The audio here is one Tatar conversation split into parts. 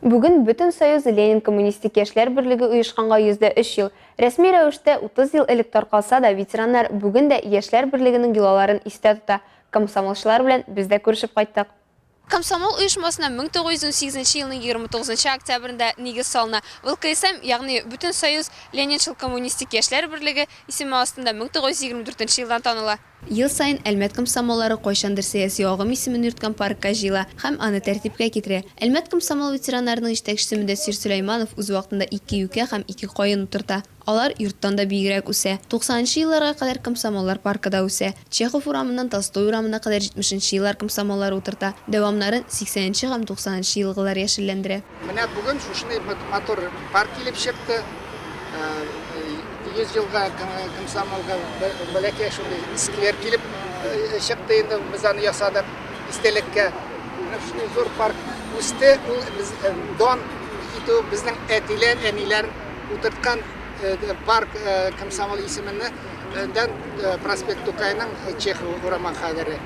Бүген Бөтенсоюз Ленин-Коммунистик яшьләр берлеге оешканга 103 ел. Рәсми рәвештә 30 ел элек таркалса да, ветераннар бүген дә яшьләр берлегенең йолаларын истә тота. Комсомолчылар белән без дә күрешеп кайттык. Комсомол оешмасына 1918 нче елның 29 нчы октябрендә нигез салына. ВЛКСМ, ягъни Бөтенсоюз Ленинчыл-Коммунистик яшьләр берлеге, исеме астында 1924 нче елдан таныла. Ел саен Әлмәт комсомоллары кайчандыр сәяси агым исемен йөрткән паркка җыела һәм аны тәртипкә китерә. Әлмәт комсомол ветераннарының җитәкчесе Мөдәссир Сөләйманов үз вакытында ике юкә һәм ике каен утырта. Алар йорттан да биегрәк үсә. Туксанынчы елларга кадәр комсомоллар паркы да үсә. Чехов урамыннан Толстой урамына кадәр җитмешенче еллар комсомоллары утырта, дәвамнарын сиксәненче һәм туксанынчы елгылар яшелләндерә. Менә бүген шушындый матур пар килеп чыкты. 100 елга комсомолга бәләкәй шундый сквер килеп чыкты инде, без аны ясадык истәлеккә. Менә шундый зур парк үсте, ул без дон китү безнең әтиләр, әниләр утырткан парк комсомол исеменнән проспект Тукайның Чехов урамы кадәре.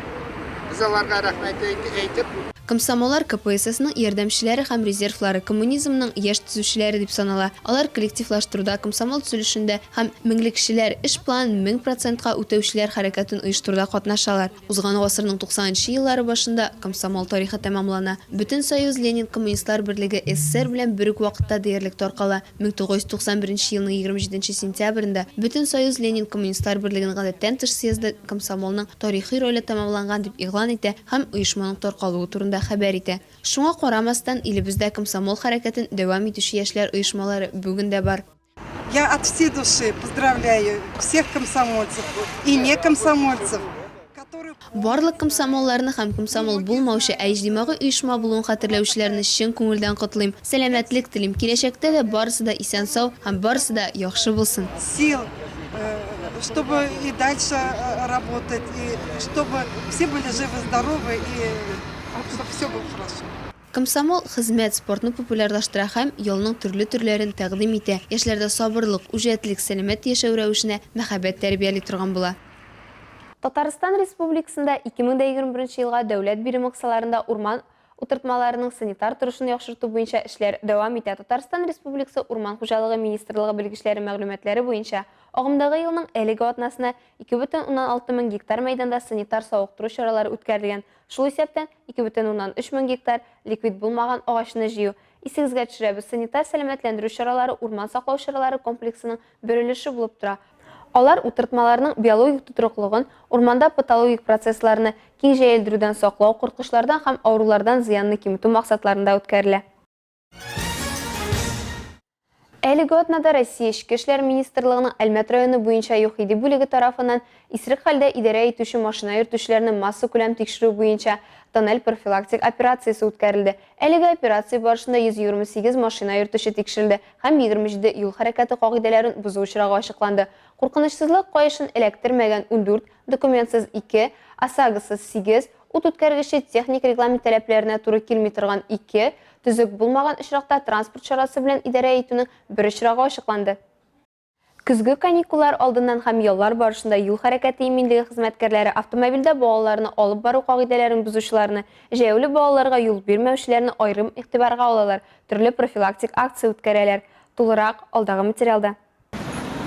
Без аларга рәхмәт әйтеп. Комсомоллар КПССның ярдәмчеләре һәм резервлары, коммунизмның яшь төзүчеләре дип санала. Алар коллективлаштыруда, комсомол төзелешендә һәм Меңлекчеләр эш планын мең процентка үтәүчеләр хәрәкәтен оештыруда катнашалар. Узган гасырның туксанынчы еллары башында комсомол тарихы тәмамлана. Бөтенсоюз Ленин-Коммунистлар берлеге СССР белән бер үк вакытта диярлек таркала. 1991 елның 27 сентябрендә Бөтенсоюз Ленин-Коммунистлар берлеген гадәттән тыш съезды комсомолның тарихи роле тәмамланган дип игълан итә һәм оешманың таркалуы турында хәбәр итә. Шуңа карамастан, илебездә комсомол хәрәкәтен дәвам итүче яшьләр оешмалары бүген дә бар. Я от всей души поздравляю всех комсомольцев и не комсомольцев, которые. Барлык комсомолларны һәм комсомол булмаучы, ә иҗтимагый оешма булуын хәтерләүчеләрне чын күңелдән котлыйм, сәламәтлек телим, киләчәктә дә барысы да исән-сау һәм барысы да яхшы булсын. сил, чтобы и дальше работать, и чтобы все были живы, здоровы и чтобы все было хорошо. Комсомол, хезмәт, спортны популярлаштыра һәм ялның төрле төрләрен тәкъдим итә, яшьләрдә сабырлык, үҗәтлек, сәламәт яшәү рәвешенә мәхәббәт тәрбияли торган була. Татарстан Республикасында 2021 елга дәүләт биремы кысаларында урман утыртмаларының санитар торышын яхшырту буенча эшләр дәвам итә Татарстан Республикасы Урман хуҗалыгы министрлыгы белгечләре мәгълүматлары буенча, агымдагы елның әлеге атнасына 2,6 мең гектар мәйданда санитар-савыктыру чаралары үткәрелгән, шул исәптән 2,3 мең гектар ликвид булмаган агачны җыю. Исегезгә төшерәбез, санитар-сәламәтләндерү чаралары урман саклау чаралары комплексының бөрелеше булып тора. Алар утыртмаларның биологик тотрыклыгын, урманда патологик процессларны киң җәелдерүдән саклау, корткычлардан һәм авырулардан зыянны киметү максатларында үткәрелә. Әлеге атнада Россия Эчке эшләр министрлыгының Әлмәт районы буенча ЮХИДИ бүлеге тарафыннан Исерек хәлдә идарә итүче машина йөртүчеләрне массакүләм тикшерү буенча тоннель профилактик операциясе үткәрелде. Әлеге операция барышында 128 машина йөртүче тикшерелде һәм 27 юл хәрәкәте кагыйдәләрен бозу очрагы ачыкланды. Куркынычсызлык каешын эләктермәгән, ундүрт, документсыз, ике, ОСАГОсыз, сигез, ут үткәргече техник регламент таләпләренә туры килми торган, ике, төзек булмаган очракта транспорт чарасы белән идарә итүнең бер очрагы ачыкланды. Көзге каникуллар алдыннан һәм яллар барышында юл хәрәкәте иминлеге хезмәткәрләре автомобильдә балаларны алып бару кагыйдәләрен бозучыларны, җәяүле балаларга юл бирмәүчеләрне аерым игътибарга алалар, төрле профилактик акция үткәрәләр. Тулырак, алдагы материалда.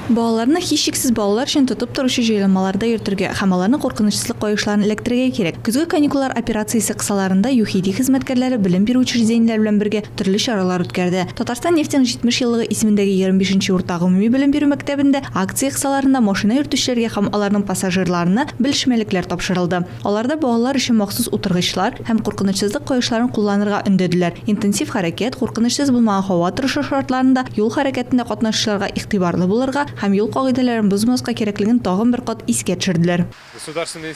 Балаларны һичшиксез балалар өчен тотып торучы җайланмаларда йөртергә һәм аларны куркынычсызлык каешларын эләктерергә кирәк. Көзге каникуллар операциясе кысаларында ЮХИДИ хезмәткәрләре белем бирү учреждениеләре белән бергә, төрле чаралар үткәрде. Татарстан нефтеның 70 еллыгы исемендәге 25 нче урта гомуми белем бирү мәктәбендә акция кысаларында машина йөртүчеләргә һәм аларның пассажирларына белешмәлекләр тапшырылды. Аларда балалар өчен махсус утыргычлар һәм куркынычсызлык каешларын кулланырга өндәделәр, интенсив хәрәкәт, куркынычсыз булмаган һава торышы шартларында юл хәрәкәтендә катнашучыларга игътибарлы булырга һәм юл кагыйдәләрен бозмаска кирәклеген тагын бер кат искә төшерделәр. Государственный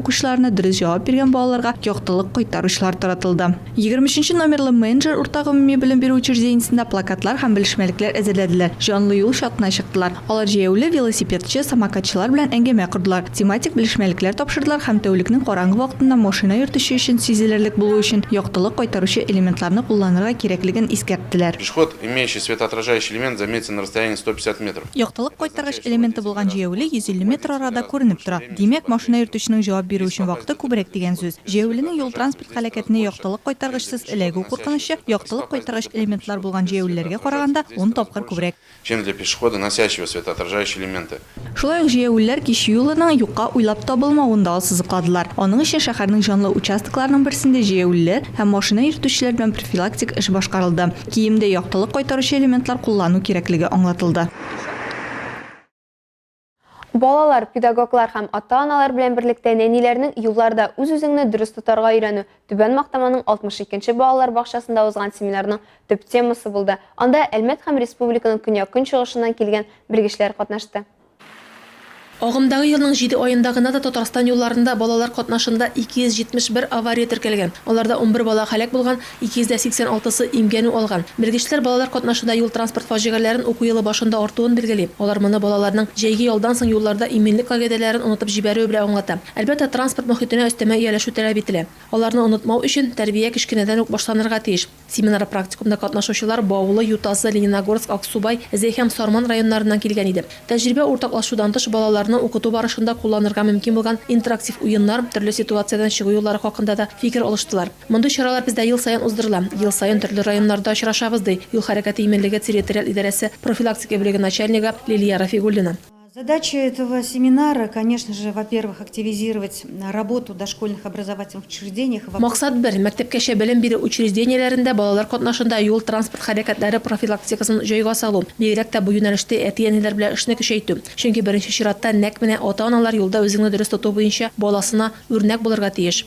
укучыларына дөрес җавап биргән балаларга яктылык кайтаручылар таратылды. Егерме өченче номерлы Менеджер урта гомуми белем бирү учреждениесендә плакатлар һәм белешмәлекләр әзерләделәр, җанлы юл чатына чыктылар. Алар җәяүле, велосипедчы, самокатчылар белән әңгәмә кордылар, тематик белешмәлекләр тапшырдылар һәм тәүлекнең караңгы вакытында машина йөртүче өчен сизелерлек булу өчен яктылык кайтаручы элементларны кулланырга кирәклеген искәрттеләр. Пешеход, имеющий светоотражающий элемент, заметен на расстоянии сто пятьдесят метров. Яктылык кайтаргыч элементы булган җәяүле йөз илле метр арада күренеп тора. Димәк, машина йөртүченең җавап бирү өчен вакыты күбрәк дигән сүз. Җәяүленең юл-транспорт һәлакәтенә яктылык кайтаргычсыз эләгү куркынычы яктылык кайтаргыч элементлар булган җәяүлеләргә караганда ун тапкыр күбрәк. Чем для пешехода, носящего светоотражающие элементы. Шулай ук җәяүлеләр кич юлының юкка уйлап табылмавын да ассызыкладылар. Аның өчен шәһәрнең җанлы участокларының берсендә җәяүлеләр һәм машина йөртүчеләр белән профилактик эш башкарылды. Киемдә яктылык кайтаручы элементлар куллану кирәклеге аңлатылды. Балалар, педагоглар һәм ата-аналар белән берлектә нәниләрнең юлларда үз-үзеңне дөрес тотарга өйрәнү Түбән Мактаманың 62 нче балалар бакчасында узган семинарның төп темасы булды. Анда Әлмәт һәм республиканың көньяк-көнчыгышыннан килгән белгечләр катнашты. Агымдагы елның җиде аенда гына да Татарстан юлларында балалар катнашында 271 авария теркәлгән, аларда унбер бала һәлак булган, 286 сы имгәнү алган. Белгечләр балалар катнашында юл-транспорт фаҗигаләрен уку елы башында артуын билгели. Алар моны балаларның җәйге ялдан соң юлларда иминлек кагыйдәләрен онытып җибәрүе белән аңлата. Әлбәттә, транспорт мохитенә өстәмә ияләшү таләп ителә. Аларны онытмау өчен, тәрбия кечкенәдән үк башланырга тиеш. Семинар-практикумда катнашучылар Баулы, Ютазы, Лениногорск, Аксубай, Зәй һәм Сарман районнарыннан килгән иде. Тәҗрибә уртаклашудан тыш, балаларны укыту барышында кулланырга мөмкин булган интерактив уеннар, төрле ситуациядән чыгу юллары хакында да фикер алыштылар. Мондый чаралар бездә ел саен уздырыла. Ел саен төрле районнарда очрашабыз, ди Юл хәрәкәте иминлеге территориаль идарәсе профилактика бүлеге начальнигы Лилия Рафигуллина. Задача этого семинара, конечно же, во-первых, активизировать работу дошкольных образовательных учреждениях, во-вторых. Максат бер, мәктәпкәчә белем бирү учреждениеләрендә балалар катнашында юл-транспорт хәрәкәтләре профилактикасын җайга салу, бигрәк тә бу юнәлештә әти-әниләр белән эшне көчәйтү. Чөнки беренче чиратта нәкъ менә ата-аналар юлда үзеңне дөрес тоту буенча баласына үрнәк булырга тиеш.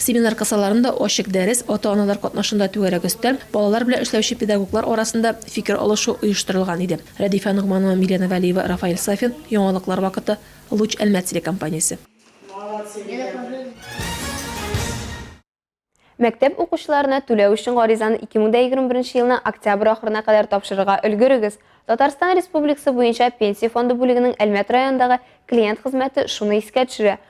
Семинар кысаларында ачык дәрес, ата-аналар катнашында түгәрәк өстәл, балалар белән эшләүче педагоглар арасында фикер алышу оештырылган иде. Рәдифә Ногманова, Милена Вәлиева, Рафаэль Сафин, Яңалыклар вакыты, Луч Әлмәт телекомпаниясе. Мәктәп укучыларына түләү өчен гаризаны 2021 елның октябрь ахырына кадәр тапшырырга өлгерегез. Татарстан Республикасы буенча Пенсия фонды бүлегенең Әлмәт районындагы клиент хезмәте шуны искә төшерә.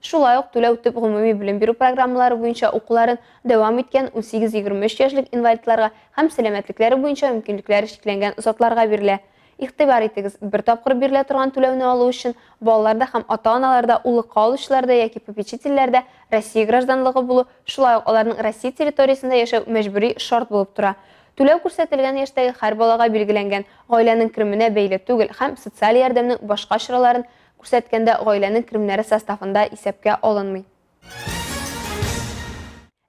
Шулай ук түләү төп гомуми белем бирү программалары буенча укуларын дәвам иткән 18-23 яшьлек инвалидларга һәм сәламәтлекләре буенча мөмкинлекләре чикләнгән затларга бирелә. Игътибар итегез, бер тапкыр бирелә торган түләүне алу өчен балалар да һәм ата-аналар да, уллыкка алучылар да яки попечительләр дә Россия гражданлыгы булу, шулай ук аларның Россия территориясендә яшәү мәҗбүри шарт булып тора. Түләү күрсәтелгән яшьтәге һәр балага билгеләнгән, гаиләнең кеременә бәйле түгел һәм социаль ярдәмнең башка чараларын Күрсәткәндә гаиләнең керемнәре составында исәпкә алынмый.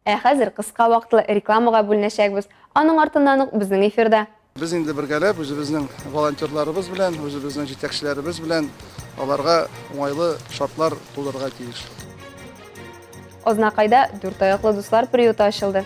Ә хәзер кыска вакытлы рекламага бүленәчәкбез, аның артыннан ук безнең эфирда. Без инде бергәләп, үзебезнең волонтерларыбыз белән, үзебезнең җитәкчеләребез белән аларга уңайлы шартлар тудырырга тиеш. Азнакайда дүрт аяклы дуслар приюты ачылды.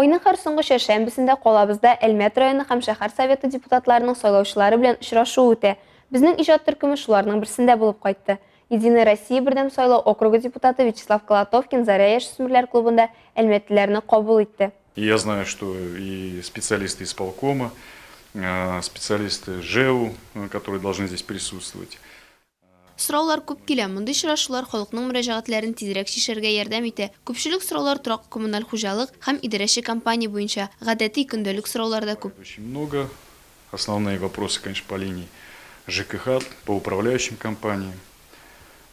Айның һәр соңгы чәршәмбесендә калабызда Әлмәт районы һәм шәһәр Советы депутатларының сайлаучылары белән очрашуы үтә. Безнең иҗат төркеме шуларның берсендә булып кайтты. Единая Россия бердәм сайлау округы депутаты Вячеслав Колотовкин Заря яшүсмерләр клубында әлмәтлеләрне кабул итте. И я знаю, что и специалисты исполкома, специалисты ЖЭУ, которые должны здесь присутствовать, Сораулар күп килә. Мондый очрашулар халыкның мөрәҗәгатьләрен тизрәк чишәргә ярдәм итә. Күпчелек сораулар торак-коммуналь хуҗалык һәм идарәче компания буенча. Гадәти, көндәлек сораулар да күп. Очень много. Основные вопросы, конечно, по линии ЖКХ, по управляющим компаниям.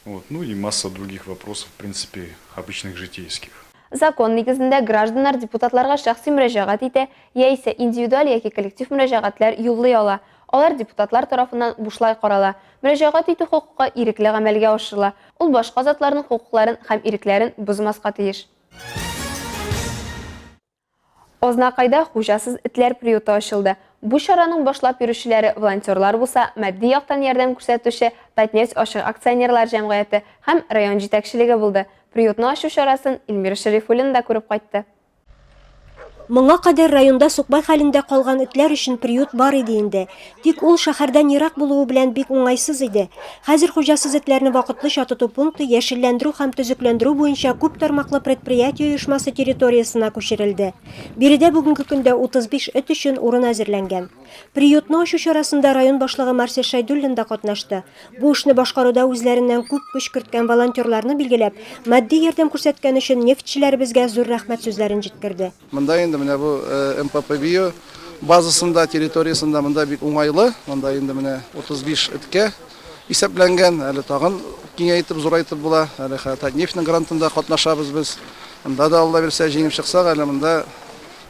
Вот. Ну и масса других вопросов, в принципе, обычных житейских. Закон нигезендә гражданнар депутатларга шәхси мөрәҗәгать итә яисә индивидуаль яки коллектив мөрәҗәгатьләр юллый ала. Алар депутатлар тарафыннан бушлай карала, мөрәҗәгать итү хокукы ирекле гамәлгә ашырыла, ул башка затларның хокукларын һәм ирекләрен бозмаска тиеш. Азнакайда хуҗасыз этләр приюты ачылды. Бу чараның башлап йөрүчеләре волонтерлар булса, матди яктан ярдәм күрсәтүче Татнефть ачык акционерлар җәмгыяте һәм район җитәкчелеге булды. Приютны ачу чарасын Эльмира Шәрифуллина да күреп кайтты. Моңа кадәр районда сукбай хәлендә калган этләр өчен приют бар иде инде. Тик ул шәһәрдән ерак булуы белән бик уңайсыз иде. Хәзер хуҗасыз этләрне вакытлыча тоту пункты яшелләндерү һәм төзекләндерү буенча күп тармаклы предприятие оешмасы территориясенә күчерелде. Биредә бүгенге көндә 35 эт өчен урын әзерләнгән. Приютны ачу чарасында район башлыгы Марсель Шайдуллин да катнашты. Бу эшне башкаруда үзләреннән күп көч керткән волонтерларны билгеләп, матди ярдәм күрсәткән өчен нефтьчеләребезгә зур рәхмәт сүзләрен җиткерде. Монда инде менә бу МПП био базасында, территориясендә монда бик уңайлы. Монда инде менә 35 эткә исәпләнгән. Әле тагын киңәйтеп, зурайтып була. Әле хәтта Татнефтьнең грантында катнашабыз без. Монда да, Алла бирсә, җиңеп чыксак, әле монда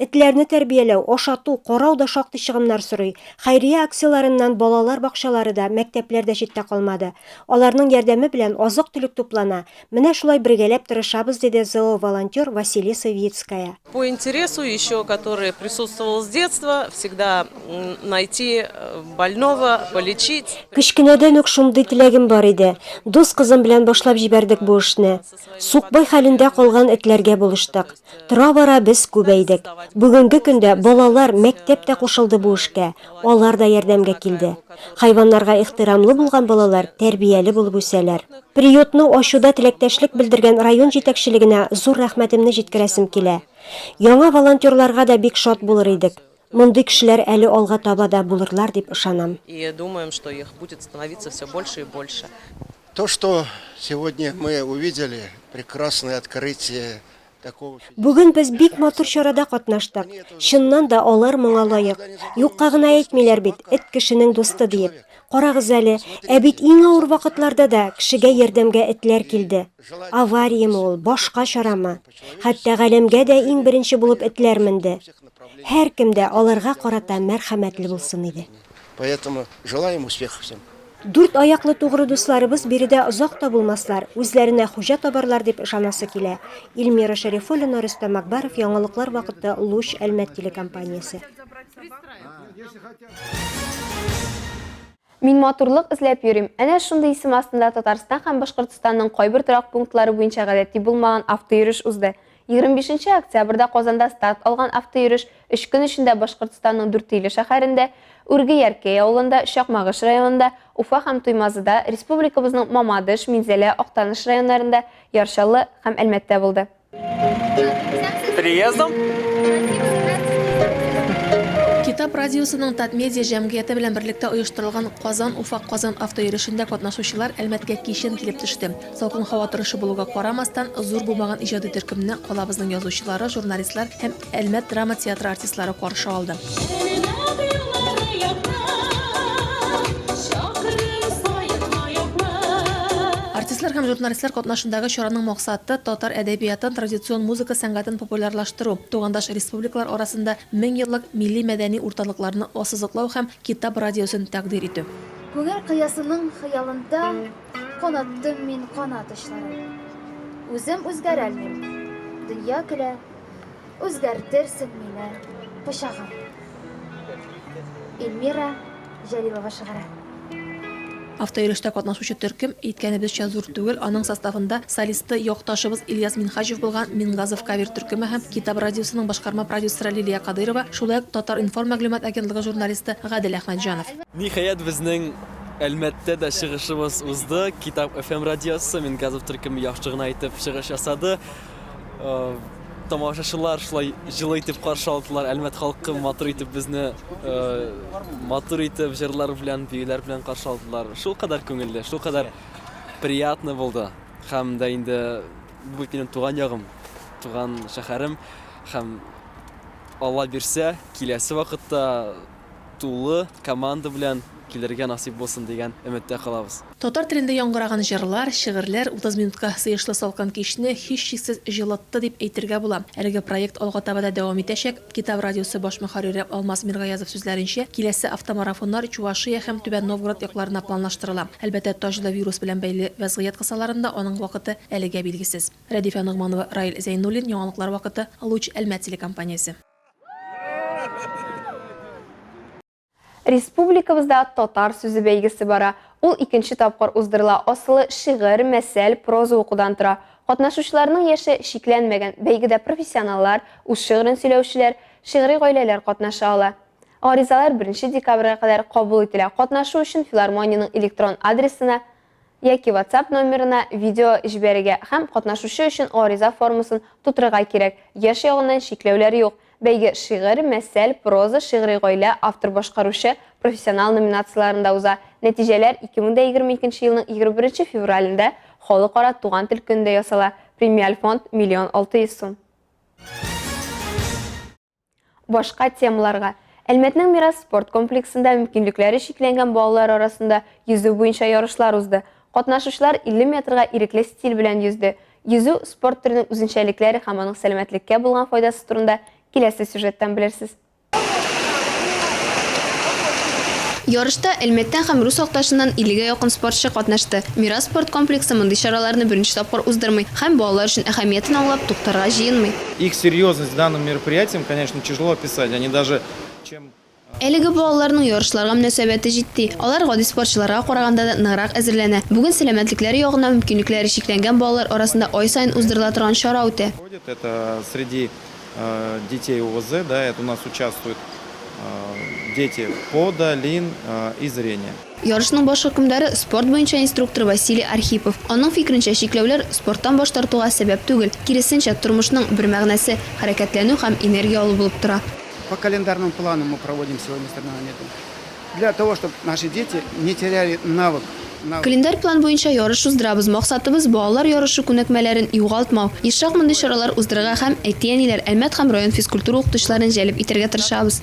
Этләрне тәрбияләү, ашату, карау да шактый чыгымнар сорый. Хәйрия акцияләреннән балалар бакчалары да, мәктәпләр дә читтә калмады. Аларның ярдәме белән азык-төлек туплана. Менә шулай бергәләп тырышабыз, диде зооволонтер Василиса Вицкая. По интересу еще который присутствовал с детства, всегда найти больного, полечить. Кечкенәдән үк шундый теләгем бар иде. Дус кызым белән башлап җибәрдек бу эшне. Сукбай хәлендә калган этләргә булыштык. Тора-бара без күбәйдек. Бүгенге көндә балалар, мәктәп тә кушылды бу эшкә, алар да ярдәмгә килде. Хайваннарга ихтирамлы булган балалар тәрбияле булып үсәләр. Приютны ачуда теләктәшлек белдергән район җитәкчелегенә зур рәхмәтемне җиткерәсем килә. Яңа волонтерларга да бик шат булыр идек. Мондый кешеләр әле алга таба да булырлар дип ышанам. И думаем, что их будет становиться всё больше и больше. То, что сегодня мы увидели прекрасное открытие такого чудесного. Бүген без бик матур чарада катнаштык. Чыннан да алар моңа лаек. Юкка гына әйтмиләр бит, эт кешенең дусты диеп. Карагыз әле, ә бит иң авыр вакытларда да кешегә ярдәмгә этләр килде. Авариямы ул, башка чарамы? Хәтта галәмгә дә иң беренче булып этләр менде. Һәркем дә аларга карата мәрхәмәтле булсын иде. Поэтому желаем успехов всем. Дүрт аяклы тугры дусларыбыз биредә озак та булмаслар, үзләренә хуҗа табарлар дип ышанасы килә. Ильмира Шәрифуллина, Рөстәм Акбаров, яңалыклар вакыты, Луч, Әлмәт телекомпаниясе. Мин матурлык эзләп йөрим. Әнә шундый исем астында Татарстан һәм Башкортостанның кайбер торак пунктлары буенча гадәти булмаган автойөреш узды. 25 нче октябрьдә Казанда старт алган автойөреш өч көн эчендә Башкортостанның Дүртөйле шәһәрендә, Үрге-Яркәй авылында, Чакмагыш районында, Уфа һәм Туймазыда, республикабызның Мамадыш, Минзәлә, Актаныш районнарында, Яр Чаллы һәм Әлмәттә булды. Приездом? Китап радиосының Татмедиа җәмгыяте белән берлектә оештырылган Казан-Уфа-Казан автоерешендә катнашучылар Әлмәткә кичен килеп төште. Салкын һава торышы булуга карамастан, зур булмаган иҗади төркемне калабызның язучылары, журналистлар һәм Әлмәт драма театры артистлары каршы алды. Артистлар һәм журналистлар катнашындагы чараның максаты татар әдәбиятын, традицион музыка сәнгатен популярлаштыру, тугандаш республикалар арасында мең еллык милли мәдәни урталыкларны ассызыклау һәм Китап радиосын тәкъдир итү. Күңел кыясының хыялында Канаттым мин канат очларын. Үзем үзгәрәлмим, дөнья көлә, Үзгәртерсең мине пычагым. Эльмира Җәлилова шигыре. Автоирештә катнашучы төркем, әйткәнебезчә, зур түгел, аның составында солисты, якташыбыз Ильяс Минһаҗев булган Мингазов кавер төркеме һәм Китап радиосының башкарма продюсеры Лилия Кадыйрова, шулай ук Татар-информ мәгълүмат агентлыгы журналисты Гадел Әхмәтҗанов. Ниһаять, безнең Әлмәттә дә чыгышыбыз узды. Китап FM радиосы Мингазов төркеме яхшы гына итеп чыгыш ясады. тамашачылар шулай җылы итеп каршы алдылар. Әлмәт халкы матур итеп безне матур итеп җырлар белән, биюләр белән каршы алдылар. Шул кадәр күңелле, шул кадәр приятно булды. Һәм дә инде бу минем туган ягым, туган шәһәрем һәм Алла бирсә, киләсе вакытта тулы команда белән килергә насыйп булсын дигән өметтә калабыз. Татар телендә яңгыраган җырлар, шигырьләр 30 минутка сыешлы салкын кичне һичшиксез җылытты дип әйтергә була. Әлеге проект алга таба да дәвам итәчәк. Китап радиосы баш мөхәррире Алмаз Миргаязов сүзләренчә, киләсе автомарафоннар Чувашия һәм Түбән Новгород якларына планлаштырыла. Әлбәттә, Таҗда вирус белән бәйле вәзгыять кысаларында аның вакыты әлегә билгесез. Рәдифә Ногманова, Раил Зәйнуллин, яңалыклар вакыты, Луч, Әлмәт телекомпаниясе. Республикабызда татар сүзе бәйгесе бара. Ул икенче тапкыр уздырыла. Асылы шигырь, мәсәл, проза укудан тора. Катнашучыларның яше чикләнмәгән. Бәйгедә профессионаллар, үз шигырен сөйләүчеләр, шигъри гаиләләр катнаша ала. Гаризалар 1 декабрьгә кадәр кабул ителә. Катнашу өчен филармониянең электрон адресына яки WhatsApp номерына видео җибәрергә һәм катнашучы өчен гариза формасын тутырырга кирәк. Яшь ягыннан чикләүләр юк. Бәйге шигырь, мәсәл, проза, шигъри гаилә, автор-башкаручы, профессионал номинацияләрендә уза. Нәтиҗәләр 2022 елның 21 февралендә Халыкара туган тел көнендә ясала. Премиаль фонд, миллион алты йөз сум. Башка темаларга. Әлмәтнең Мирас спорт комплексында мөмкинлекләре чикләнгән балалар арасында йөзү буенча ярышлар узды. Катнашучылар 50 метрга ирекле стиль белән йөзде. Йөзү, спорт төренең үзенчәлекләре һәм аның сәламәтлеккә булган файдасы турында киләсе сюжеттан белерсез. Ярышта Әлмәттән һәм рус якташыннан 50 гә якын спортчы катнашты. Мирас спорт комплексы мондый чараларны беренче тапкыр уздырмый һәм балалар өчен әһәмиятен аңлап, туктарга җыенмый. Их серьезность данным мероприятиям, конечно, тяжело описать, они даже чем. Әлеге балаларның ярышларга мөнәсәбәте җитди. Алар гади спортчыларга караганда да ныграк әзерләнә. Бүген сәламәтлекләре ягыннан мөмкинлекләре чикләнгән балалар арасында ай саен уздырыла торган чара үтә. Проходит это среди детей ОВЗ, да, это у нас участвуют дети по да лин и зрения. Ярышның баш хөкемдары, спорт буенча инструктор Василий Архипов. Аның фикеренчә, чикләүләр спорттан баш тартуга сәбәп түгел, киресенчә, тормышның бер мәгънәсе, хәрәкәтләнү һәм энергия алу булып тора. По календарному плану мы проводим сегодня соревнования для того, чтобы наши дети не теряли навык, навык. Календарь план буенча ярыш уздырабыз, максатыбыз, балалар ярышы күнекмәләрен югалтмау. Ешрак мондый чаралар уздырырга һәм әти-әниләр, Әлмәт һәм район физкультура укытучыларын җәлеп итәргә тырышабыз.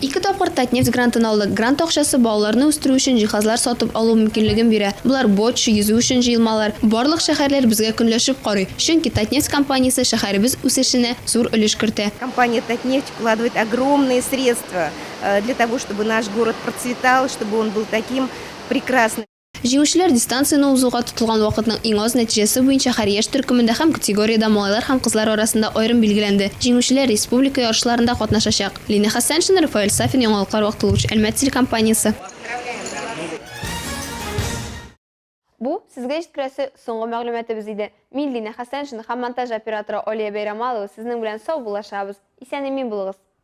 Ике тапкыр Татнефть грантын алдык. Грант акчасы балаларны үстерү өчен җиһазлар сатып алу мөмкинлеген бирә. Болар, боч, йөзү өчен җыелмалар. Барлык шәһәрләр безгә көнләшеп карый, чөнки Татнефть компаниясе шәһәребез үсешенә зур өлеш кертә. Компания Татнефть вкладывает огромные средства для того, чтобы наш город процветал, чтобы он был таким прекрасным. Җиңүчеләр дистанцияне узуга тотылган вакытның иң аз нәтиҗәсе буенча һәр яшь төркемендә һәм категориядә малайлар һәм кызлар арасында аерым билгеләнде. Җиңүчеләр республика ярышларында катнашачак. Лина Хәсәншина, Рафаэль Сафин, Яңалыклар вакыты луч, Әлмәт телекомпаниясе. Бу, сезгә җиткерәсе соңгы мәгълүматыбыз иде. Мин, Лина Хәсәншина һәм монтаж операторы Алия Бәйрәмалова сезнең белән сау булашабыз. Исән-имин булыгыз!